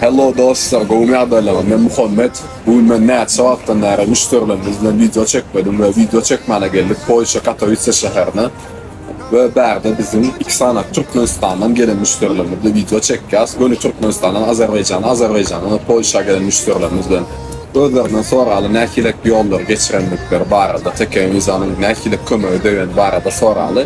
Hello dostlar, gowmy ýagdaýlaryň? Men Muhammet. Bu gün men näçe wagtdan bäri müşderilerimiz bilen wideo çekmedim we wideo çekmäne geldik Polşa Katowise şäherine. We bärde biziň iki sany Türkmenistandan gelen müşderilerimiz bilen wideo çekýäs. Göni Türkmenistandan Azerbaýjana, Azerbaýjandan hem Polşa gelen müşderilerimiz bilen. Özlerinden soraly nähilek ýollary geçirendikleri barada, TK-Visa-nyň nähilek kömege degeni barada soraly.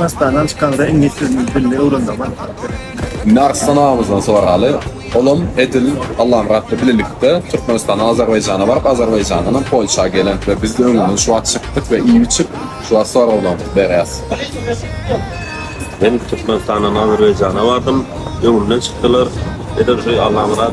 Dastandan çykanda iňlis dilini dilini öwrenmegi maslahat bereýin. Mersen agymyzdan soraly. Olam edil Allamyratly bilelikde Türkmenistan Azerbaýjana baryp Azerbaýjandan hem Polşa gelen we biz öňünden şu wagt çykdyk we iýip içip şu wagt soraglarymyzy berýäs. Men Türkmenistandan Azerbaýjana bardym. Öňümden çykdylar. Edil şu Allamyrat.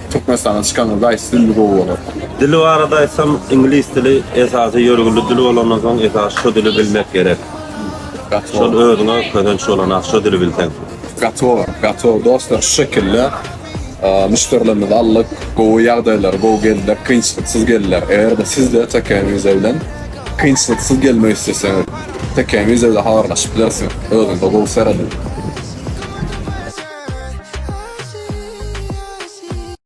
Türkmenistana çykanda daýysy dilini gowy bolar. Dil barada aýtsam iňlis dili esasy ýörgünli dil bolandan soň esasy şo dili bilmek gerek. Şol özüňe kösenç bolanok şo dili bilseň. Gatow gatow dostlar şu şekilde müşderilerimizi aldyk gowy ýagdaýlar gowy geldiler kynçylyksyz geldiler eger-de sizde TKM viza bilen kynçylyksyz gelmek isleseňiz TKM viza bilen habarlaşyp bilersiňiz özüňize gowy serediň.